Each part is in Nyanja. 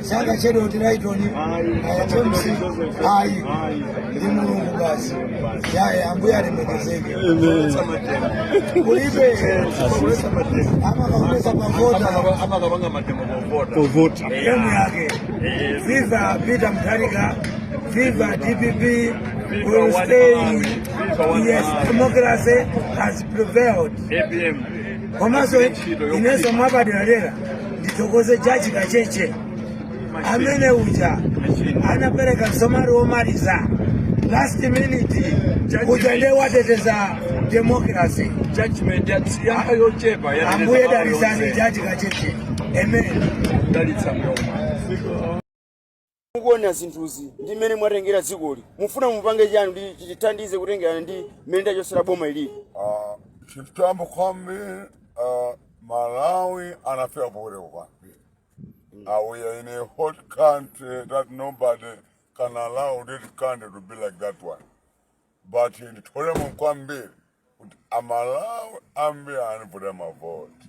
sakachedwa kuti laitoni atomsi ayi ndi mulungu basi yaye ambuye alemekezeke kulibe amakaonesa povota amakapanga mademo povota emu yake viva peter mutharika viva dpp will stay yes democracy has prevailed APM. komanso inenso mwapaderadera ndithokoze jaji kacheche amene uja anapereka msomali womaliza last minute kuja ndiye wateteza democracy judgment yanga yochepa ambuye dalisani jaji kacheche amen dalitsa mloma mukuona zinthuzi ndi mmene mwatengera dzikoli mufuna mupange chani kuti chitithandize kutengera ndi mmene tachosera boma ilili Ah, chitambo kwambiri ah, malawi anafika pokuleka kwambiri Ah, we are in a hot country that nobody can allow this country to be like that one but nditolemo kwambiri kuti amalawi ambiri anandivotera mavoti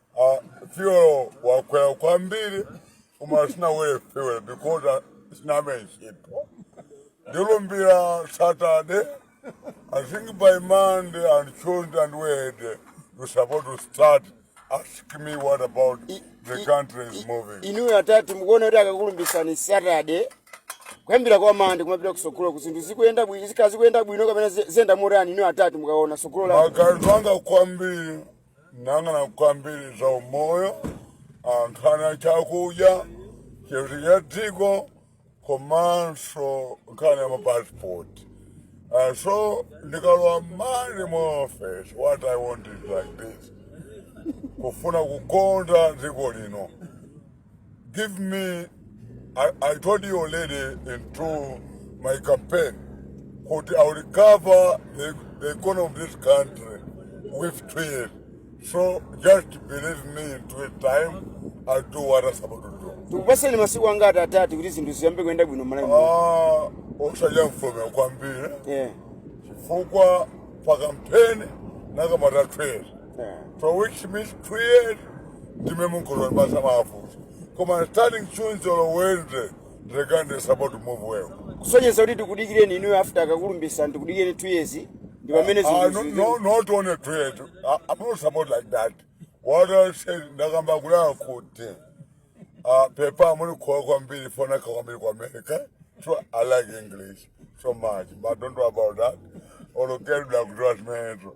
Uh, fuel wakwera kwambiri koma sinawere fuel because uh, sinayambe ntchito ndilumbira saturday i think by monday and tuesday and wednesday you supposed to start ask me what about the country is moving inuyo atati mukuona kuti akakulumbisani saturday kuyambira kwa monday kumapita kusogoloku zinthu zikuyenda bwino zikhala zikuyenda bwino kapena zi- ziyenda motani inuyo atati mukaona sogolo la maganizo anga kwambiri nang'ana kwambiri za umoyo nkhani ya chakudya chitetezo cha dziko komanso nkhani ya mapasipoti Uh, so ndikalowa mali mu office what i want is like this kufuna kukonda dziko lino Give me, I, I told you already into my campaign, kuti I recover the, the economy of this country with two years. So just believe me in two years time, I'll do what I'm supposed to do. tikupaseni masiku angati atati kuti zinthu ziyambe kuyenda bwino malawi muno? Ah, osayamfomera kwambiri Yeah. chifukwa pa kampeni nakamba two years. for which means two years ndime munkhulupirira basi mafuta koma starting tuesday or wednesday the country is about to move well kusonyeza kuti tikudikireni inuyo after akakulumbisani tikudikireni two years ndi pamene Ah, no, zinthu no, not only two years. I, I'm not support like that. What I said, ndakamba kulaya kuti uh, pepa amuli kuwa kwambiri fona kwambiri ku America. So I like English so much, but don't worry about that. Olokeri blakutoa zimenezo.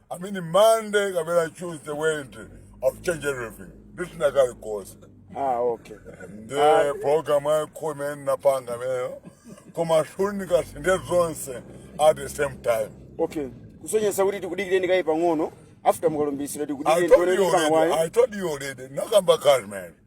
I mean Monday kapena Tuesday Wednesday I've changed everything ndisinthanso kalikonse ah okay ndi program yakho imene ndinapanga imeneyo koma zifunika zisinthe zonse at the same time okay kusonyeza kuti tikudikireni kaye pang'ono after mukalumbira I told you already. I tikudikireni told you already. Nakamba Carmen.